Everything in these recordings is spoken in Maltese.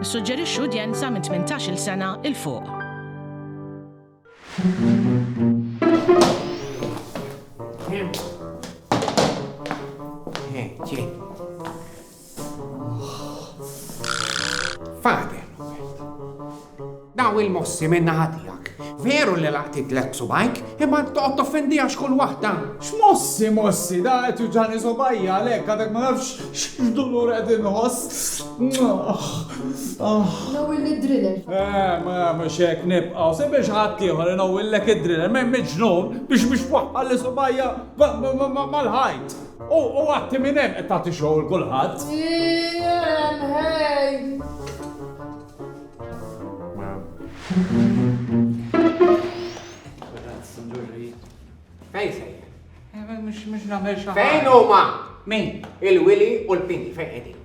Nissuġġerixxu udjenza minn 18-il sena 'l fuq. Fadel, daw il-mossi minna ħatijak. Veru li laqti tlet subajk, imma toqgħod toffendi għax kull waħda. X'mossi, mossi, da qed juġani subajja għalhekk għadek ma nafx x'dulur qed inħoss. Nawil id-driller. Eh, ma nagħmel xek nibqgħu, se biex ħadd ieħor inawillek id-driller, ma ġnun biex biex waħħal li subajja mal-ħajt. U għatti minn hemm qed tagħti xogħol kulħadd. Fejn sejjer? Eh, mhux nagħmel xi Fejn huma? Min? Il-Willy u l-Pini fejn qegħdin?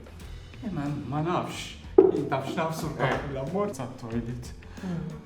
Eh, ma nafx. Tafx nafsu l-kappella eh. mort sa' toilet. Hmm.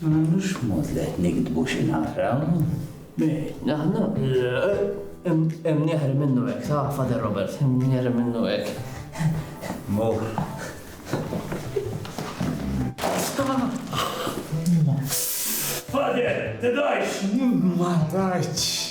Ma nagħmlux mod li qed niktbu xi naqraw. Aħna hemm nieħri minnu hekk, sa Father Robert, hemm nieħri minnu hekk. Mor. Father, tidajx! Ma rajtx.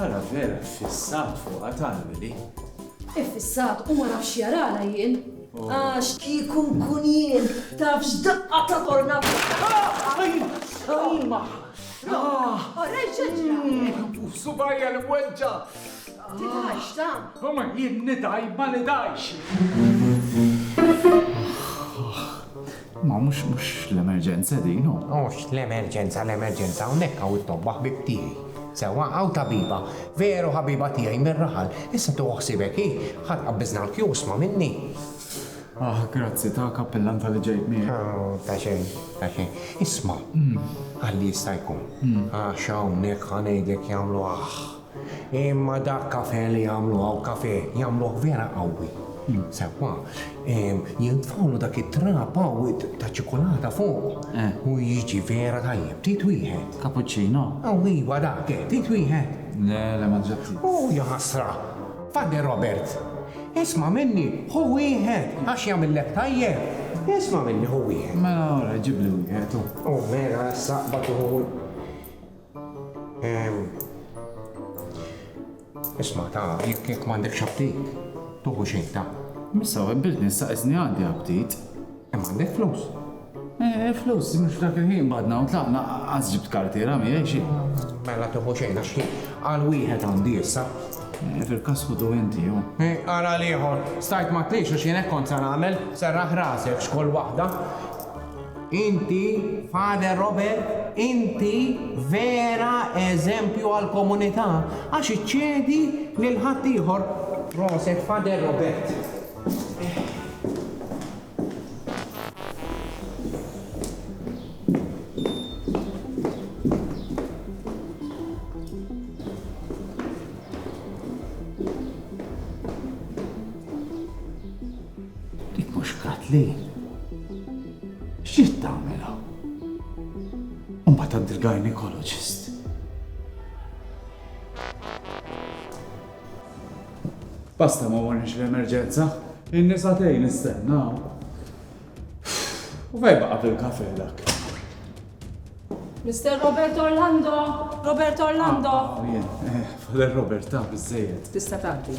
Ara vera ffissat fuqha tant Billy. Iffissat u ma nafx x'jarala jien. Għax kieku nkun jien taf x'daqqa ta' tornata. Orajt x'ġra. Subajja li mweġġa'. Tidhajx ta'. Imma jien nidhaj ma nidhajx. Ma mhux mhux l-emerġenza din hu. Mhux l-emerġenza l-emerġenza hawnhekk hawn it-tobba ħbieb tiegħi. Sewwa hawn tabiba, veru ħabiba tiegħi mir-raħal. Issa tieħu ħsiebek hi, ħa tqabbiżna l-kjusma minni. Aħ, grazzi ta' kappillan talli ġejt miegħek. Ta' xejn, ta' xejn. Isma', għalli jista' jkun, għax hawnhekk ħa ngħidlek jagħmlu aħ. Imma dak kafè li jagħmlu hawn kafè jagħmluh vera qawwi. Sewwa, jintfgħulu dak it-trab qawwi ta' ċikulata fuq u jiġi vera tajjeb. Trid wieħed? Cappuccino? Aw iva dak, eh, trid wieħed? Le, le, ma ġġa trid. Hu, jaħasra! Pader Robert, isma' minni, ħu wieħed għax jagħmillek tajjeb. Isma' minni, ħu wieħed. Mela, ora, ġibli wieħed, hu. Hu, mela, issa, bad hu. Isma' ta, jekk jekk m'għandekx aptit, tuħu xejn ta. Missa webbiltni issa qiżni għandi aptit. Hemm għandek flus? Eh, flus, mhux f'dak il-ħin badna u tlaqna qas ġibt kartiera miegħi xi. Mela tuħu xejn għax ħin għal wieħed għandi issa. Eh, fil-każ ħudu inti jew. Eh, ara l-ieħor, stajt ma tlix għax jien hekk kont sa nagħmel, serraħ rasek x'kull waħda. Inti, Father Robert, inti vera eżempju għall-komunità għax iċċedi lil ħaddieħor. Proset Father Robert. Dik mhux Kathleen? X'ġiet tagħmel hawn? U mbagħad għand il-gynaecologist. Basta ma warniex l-emerġenza. In-nisa tgħin nistennaw. U fej baqa' fil-kafe dak. Mr. Robert Orlando, Robert Orlando. Ah, ah, eh, Father Robert, ta' bizzejed. Tista' tagħti.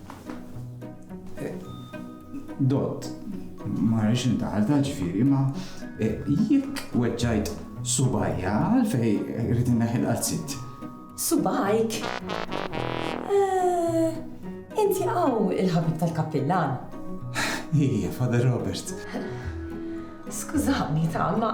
Dott, ma rridx intaħal ta' ġifieri, ma eh, jekk weġġajt subajja għalfej rrid inneħil qazzit. Subajk? Eh, inti għaw il-ħabib tal-kappillan. Ija, Father Robert. Skużani ta' ma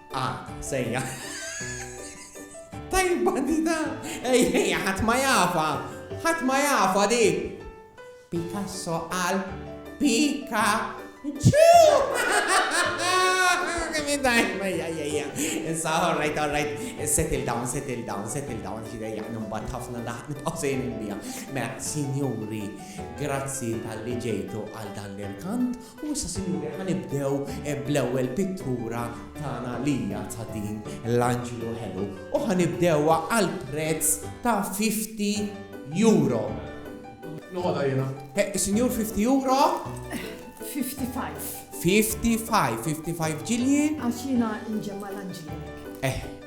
Ah, sejja. Tajba di da! Ej, ej, ħadd ma jafa! Ħadd ma jafa di! Picasso għal Pika ċu! Min dajn, mejja, jajja. Issa, all right, all right. Settle down, settle down, settle down. Ġidej, jgħan mbatt ħafna daħt nitqosejn bija. Mela, signori, grazzi tal-li ġejtu għal dan l-irkant U issa, Sinjuri, ħa nibdew bl-ewwel pittura tagħna li hija ta' din l-anġlu ħelu u ħa nibdewha għal prezz ta' fifty euro. Noqgħodha jiena. Sinjur, fifty euro? Fifty five. Fifty five, fifty five ġilji? Għax jiena nġemma' l-anġli.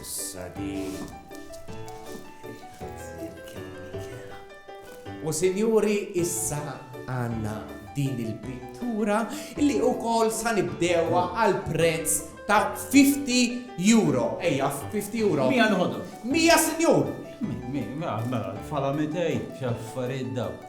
Issa din. U sinjuri issa għanna din il-pittura li u kol sa nibdewa għal prezz ta' 50 euro. Ejja, 50 euro. Mija nħodu. Mija sinjur. Mija, mela, fala mitej, xaffariet daw.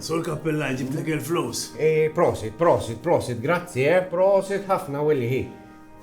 Sur kappella ġibtek il-flus. Eh, prosit, prosit, prosit, grazzi, eh, prosit ħafna willi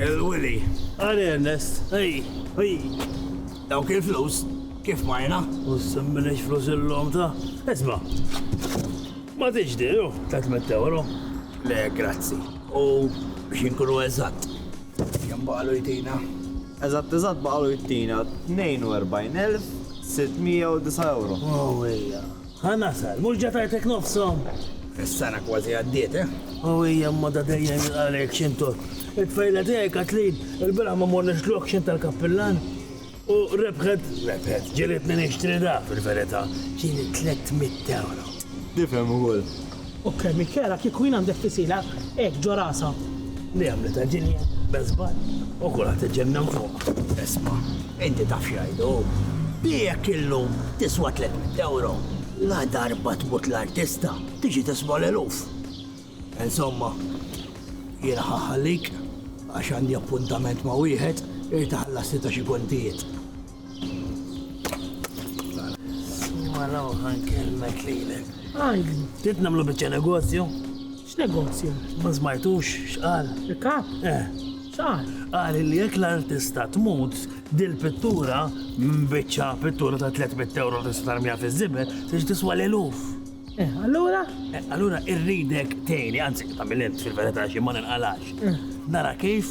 Il-Willy. Għari Ernest, ej, ej. Daw kif flus, kif majna? U s-semmilex flus il-lom ta' esma. Ma tiġdi, jo, 300 euro. Le, grazzi. U biex inkunu eżatt. Jambalu jtina. Eżatt eżatt baqgħu jtina 42,609 ewro. Owwija! Ħa nasal, mhux ġa tajtek nofshom? Is-sena kważi għaddiet, eh? Owwija imma da dejjem jilqa' lejk xintur. It-tfajla tiegħi Kathleen ilbieraħ ma morniex l-auction tal-kappillan u rebħet, rebħet, ġielitni nixtri da, fil-verità, ġieli 300 ewro. Tifhem ukoll. Okkej Michela, kieku jien għandek kisila hekk ġo rasha. Li għamlitha Ġilja bel żball u kulħadd iġennan fuqha. Isma', inti taf x'jgħidu? Li jekk illum tiswa tliet mitt ewro, ladarba tmut l-artista tiġi tiswa l-eluf. Insomma, jiena ħa nħallik għax għandi appuntament ma' wieħed irid iħallasni ta' xi kontijiet. Mara uħan kelmet lilek. Għajn, trid namlu bieċa negozju? X'negozju? Ma smajtux, x'qal? Il-kap? Eh. X'qal? Qal li jekk l-artista tmut, dil-pittura, bieċa pittura ta' 300 euro tista' tarmija fiż-żibel, tix tiswa l-eluf. Eh, allura? Eh, allura irridek tejni, anzi, ta' mill-int fil-verita xi ma ninqalax. Eh. Nara kif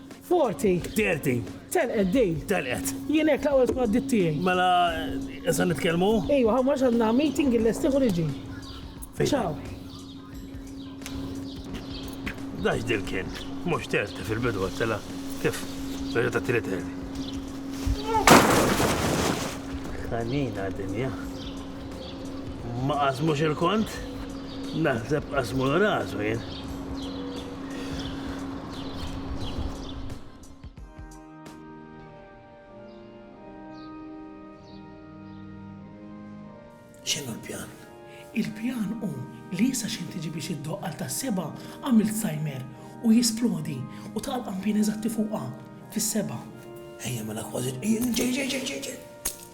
Forti. Terti. Telqet di. Telqet. Jien hekk l-aqwa tkun għaddiet tiegħi. Mela issa nitkellmu? Ejwa, ħa mhux għandna meeting illestih u niġi. Ciao. Da x'dil kien? Mhux terti fil-bidu għattela. Kif? Reġa' tat-tielet terti. Ħanina dinja. Ma qasmux il-kont? Naħseb qasmu l-rasu jien. X'inhu l-pjan? Il-pjan hu li sa xejn tiġi biex iddoqq għal tas-sebgħa għamilt sajmer u jisplodi u taqa' l-qampien eżatti fuqha, fis-sebgħa. Ejja mela kważi. Ġej, ġej, ġej, ġej, ġej.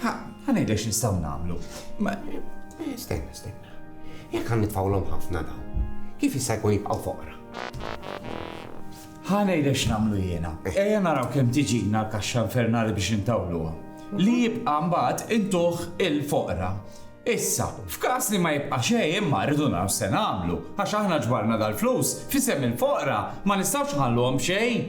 Ħa ngħidlek x'nistgħu nagħmlu. Ma stenna, stenna. Jekk għan nitfawlhom ħafna daw, kif jista' jkun jibqgħu foqra? Ħa ngħidlek x'nagħmlu jiena. Eh. Ejja naraw kemm tiġina l-kaxxa infernali biex intawluha. Li jibqa' mbagħad intuħ il-foqra. Issa, f'każ li ma jibqa' xejn imma rridu naraw se nagħmlu, għax aħna ġbarna dal-flus, fisem il-foqra ma nistgħux ħalluhom xejn.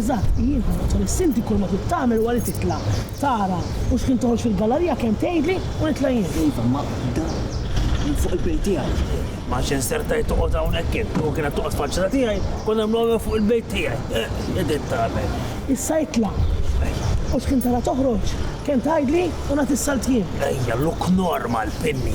Eżatt, jien ħassibthom is-Sinti kull ma trid tagħmel huwa li titla', tara u xħin toħroġ fil-gallarija kemm tgħidli u nitla' jien. Iva, ma dan minn fuq il-bejt tiegħi. Ma x'in sertajt toqgħod hawnhekk int, u kienet toqgħod faċċata tiegħi, kont nagħmluha fuq il-bejt tiegħi. Eħ, id int tagħmel. Issa itla'. Ejja. U xħin tara toħroġ, kemm tgħidli u nagħti s-salt jien. Ejja, look normal, Pinni.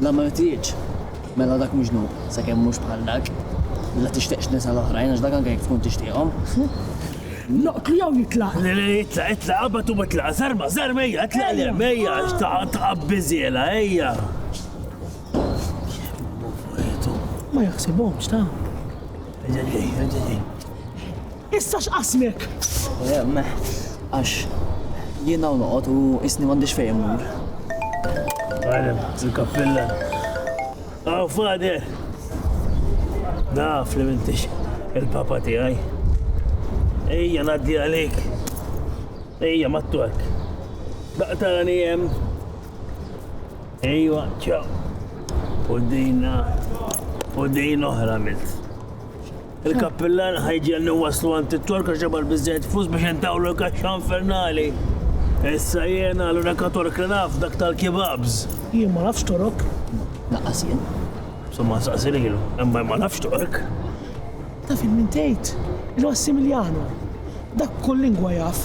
La ma rtitx? Mela dak mhux dnub, sakemm mhux bħal dak. La tixtieqx nisa l-oħrajn għax dak anke jekk tkun tixtieqhom. Noqtlu jew jitlaq? Le, le, itlaq, itlaq, qabad u itlaq, zarma, zarma, ejja, itlaq li hemm, ejja, taqab biżiela, ejja. Ma jaħsibhomx ta'. Ġeġej, ġeġej. Issa x'qassmek? Għax jien hawn noqgħod u qisni m'għandix fejn immur. Għalem, il-kappillan. Aw fader! Naf li m'intix il-papa tiegħi. Ejja ngħaddi għalik. Ejja mat-twerk. Daqtarani hemm. Ejwa, ċaw. U dina, u din oħra milt. Il-kappillan ħa jġiegħelna nwasslu għand it-Tork għax ġabar biżżejjed flus biex intawlu l-kaxxa infernali. Issa jiena l-unika Tork li naf dak tal-kibabs. Jien ma nafx Torok. Lanqas jien. Somma nsaqsi lilu, imma ma nafx Tork. Taf il min tgħid? Il-Massimiliano. Dak kull lingwa jaf.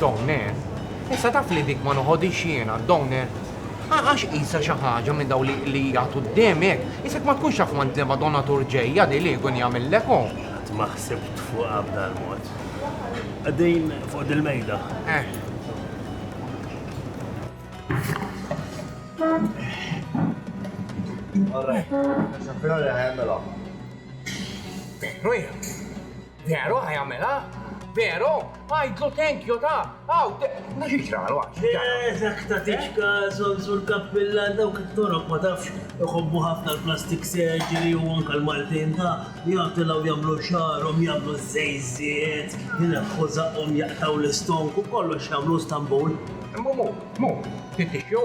Downer, issa taf li dik ma noħodix jiena, Downer, għax isa xi ħaġa minn daw li jagħtu d-demek, isek ma tkunx taf ma ntema donatur ġejja di li jkun jagħmillek hu. Qatt ma ħsibt fuqha b'dal mod. Qegħdin fuq dil-mejda. Eh. All right. Xafira li ħajmela. Rwieħ. Veru ħa jagħmilha? Veru? Għidlu thank you ta', aw, ma xi ġralu għax. Le, dak ta' tiċka, Sonsur Kappillan dawk it-toroq ma tafx iħobbu ħafna l-plastic surgery u anke l-Maltin ta' jagħtilgħu jagħmlu xagħarhom, jagħmlu ż-żejżiet, ineħħu żaqqhom jaqtgħu l-istonk u kollox jagħmlu Stamboul. Mhu, mhu, mhu, tittixxu?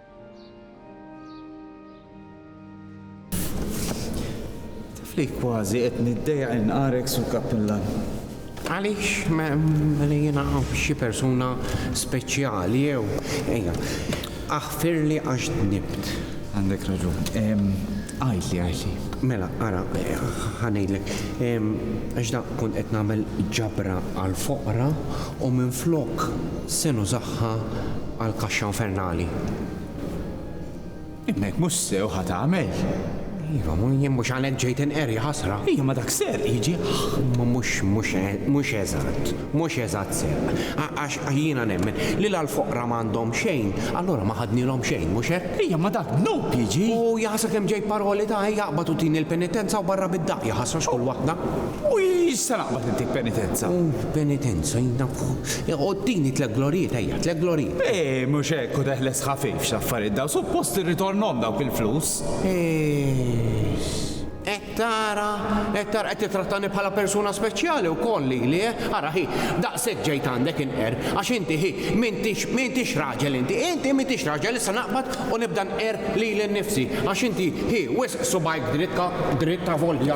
Li kważi qed niddeja inqarek su kappilla. Għaliex li jiena xi persuna speċjali jew ejja. Aħfirli għax nibt. Għandek raġun. Għajli, għajli. Mela, ara, ħanejlek, għax da kun qed nagħmel ġabra għal foqra u minn flok Se nużaha għall-kaxxa infernali. Imma jekk mhux sew ħa tagħmel. Iva, jien mhux għalhekk ġejt inqerri, ħasra. Iva, ma dak serq, jiġi. Imma mhux, mhux, mhux eżatt, mhux eżatt serq. Għax jiena nemmen li la l-foqra ma għandhom xejn, allura ma ħadnilhom xejn, mhux hekk? Iva, ma dak dnub, jiġi. U jaħsra kemm ġejt paroli ta' ejja aqbad u tini l-penitenza u barra bid-daqq, jaħasra x'kull waħda. U issa naqbad intik penitenza. Benitenzo, jnafu. Għoddini tlek glorijiet, ejja, tlek glorijiet. Eeh, mhux hekk, u teħles ħafif x'l-affarijiet dawn, suppost irritornhom dawk il-flus. Eex. Qed tara, qed tara, qed tittrattani bħala persuna speċjali wkoll lili, eh? Ara hi, daqshekk ġejt għandek inqerr, għax inti hi, m'intix, m'intix raġel inti, inti m'intix raġel, issa naqbad u nibda nqerr lili nnifsi, għax inti hi, wisq subgħajk dritt, dritt avolja.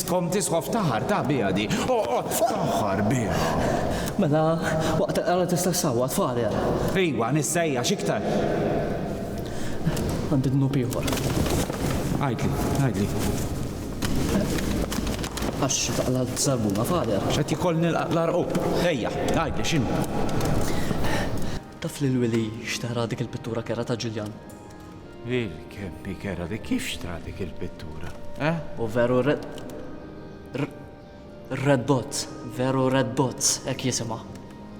Tkom tisħof taħar ta' biha di. Oqgħod taħħar biha. Mela, waqt il-qrara tista' ssawwat fader. Iwa, nissejja x'iktar. Għandi dnub ieħor. Għidli, għidli. Għax taqla l-zarbuna fader. Qed jkoll nilqa' l-arqub. Ejja, għidli x'inhu. Taf li l-wili xtara dik il-pittura kera ta' Ġiljan? Lil kemm hi kera li kif xtra dik il-pittura, eh? U veru Red Dots, veru Red Dots, hekk jisimha.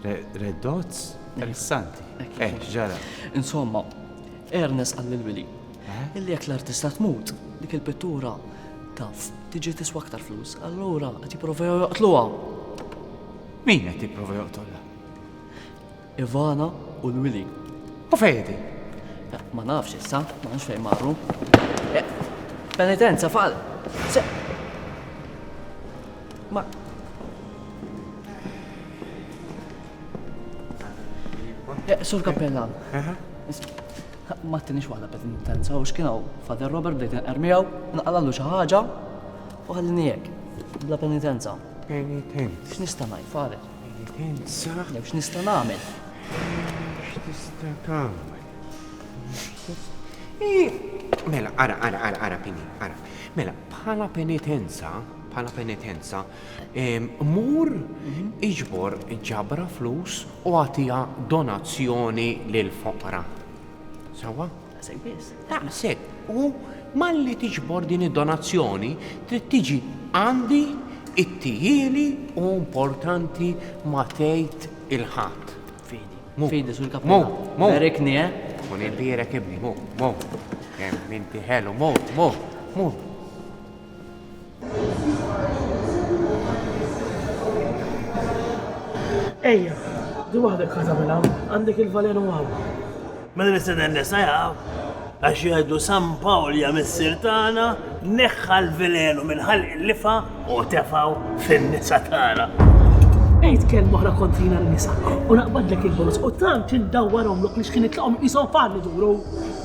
Red Dots? Interessanti. Eh, ġara. Insomma, Ernest qal lil Willy eh? illi jekk l-artista tmut, dik il-pittura taf tiġi tiswa aktar flus, allura qed jipprovew joqtluha. Min qed jipprova joqtolha? Ivana u l-Wili. U fejn qegħdin? Ma nafx issa, ma nafx fejn marru. Eh, penitenza fal. Ma Eh, Sur Kappellan. Ma t-tinix waħda bed intensa, u xkinaw Fader Robert bdejt nqermijaw, naqalallu xi ħaġa u ħallini hekk, bla penitenza. Penitenza. X'nista' ngħid, Fader? Pensa. Jew x'nista' nagħmel? X'tista' tagħmel? Mela, ara, ara, ara, ara, Pini, ara. Mela, bħala penitenza, bħala penitenza, mur mhm. iġbor ġabra flus u għatija donazzjoni lil foqra. Sawa? Daqshekk biss. Daqshekk. U malli tiġbor din id-donazzjoni trid tiġi għandi ittijieli u importanti ma tgħid il-ħadd. Fidi. Fidi sur kap. Mo. Mo. Berikni, eh? Kun imbierek ibni, mo. Mo. Kemm inti ħelu, mo. Mo. Mo. Ejja, di waħdek ħata minn hawn, għandek il-valenu hawn. Mela nistenna n-nisa jaw, għax jgħidu San Pawlja missier tagħna neħħa l-velenu minn ħalq il-lifa u tefaw fin-nisa tagħna. Ejt kelm oħra kontrina l-nisa u naqbadlek il-bonus u tant indawwarhom lok li x'kien itlaqhom qishom fan iduru.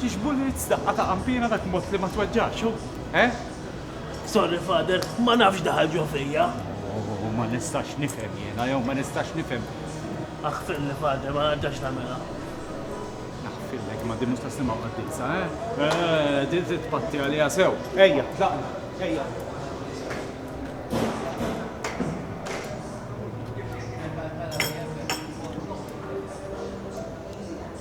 Tix bullets daqqa ta' qanpiena dak mod li ma tweġġax hu, eh? Sorry father, ma nafx daħal ġo fija. Oh, ma nistax nifhem jiena jew ma nistax nifhem. Aħfirli father, ma nerġax nagħmilha. Naħfirlek imma din mhux ta' sliema qaddisa, eh? Eh, din trid tpatti għaliha sew. Ejja, tlaqna, ejja.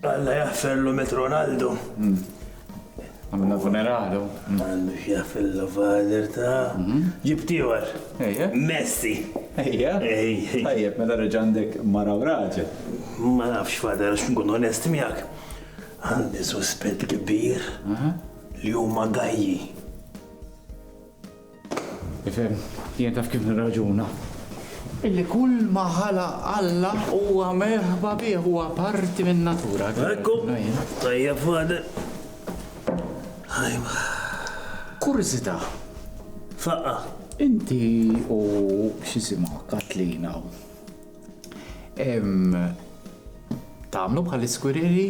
Alla jaħferlu Met Ronaldo. Għamilna funeralu. Għandu x'jaħfillu father ta. Ġibt ieħor. Ejja. Messi. Ejja. Ejja. Tajjeb, meta reġa' għandek mara u raġel. Ma nafx father għax nkun onest miegħek. Għandi suspett kbir li huma gajji. Tifhem, jien taf kif nirraġuna. Illi kull ma ħalaq Alla huwa merħba bih, huwa parti min-natura. Ekku, tajjeb fader. Ajwa. Kurżità. Faqqa. Inti u x'jisimha Katlina Tagħmlu bħal iskwiriri?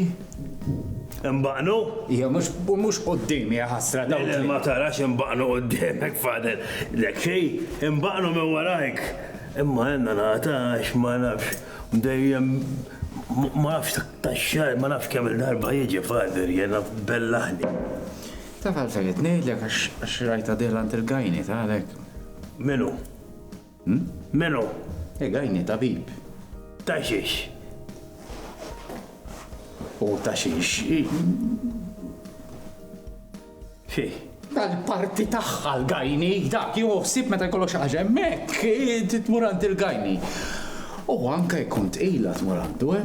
Imbaqnu? Ja, mhux qudiem, ja ħasra daw. Le, ma tarax imbaqnu qudiemek, fader. Lek xej, imbaqnu minn warajk. Imma jenna nagħta għax ma nafx dejjem ma nafx taxxar, ma nafx kemm il-darba jiġi fader jenna bellaħni. Taf għalfejn qed ngħidlek għax rajta dieħla għand il-gajni, ta' għalhekk. Minu? Melo. Egajni tabib. Ta' xiex? U ta' xiex? Xi. Tal-parti tagħha l-gajni, dak jieħu ħsieb meta jkollok xi ħaġa hemmhekk, trid tmur għand il-gajni. U anke jkun tqila tmur għandu, eh?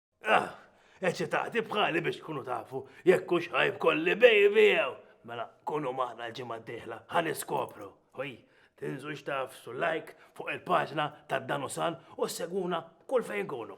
Ah, eċitati bħali biex tkunu tafu jekk hux ħajb kolli baby jew. Mela, kunu maħna l-ġimgħa d-dieħla, ħan iskopru. Ħoj, tinżux taf su like fuq il-paġna ta' Danusan u segwuna kull fejn kunu.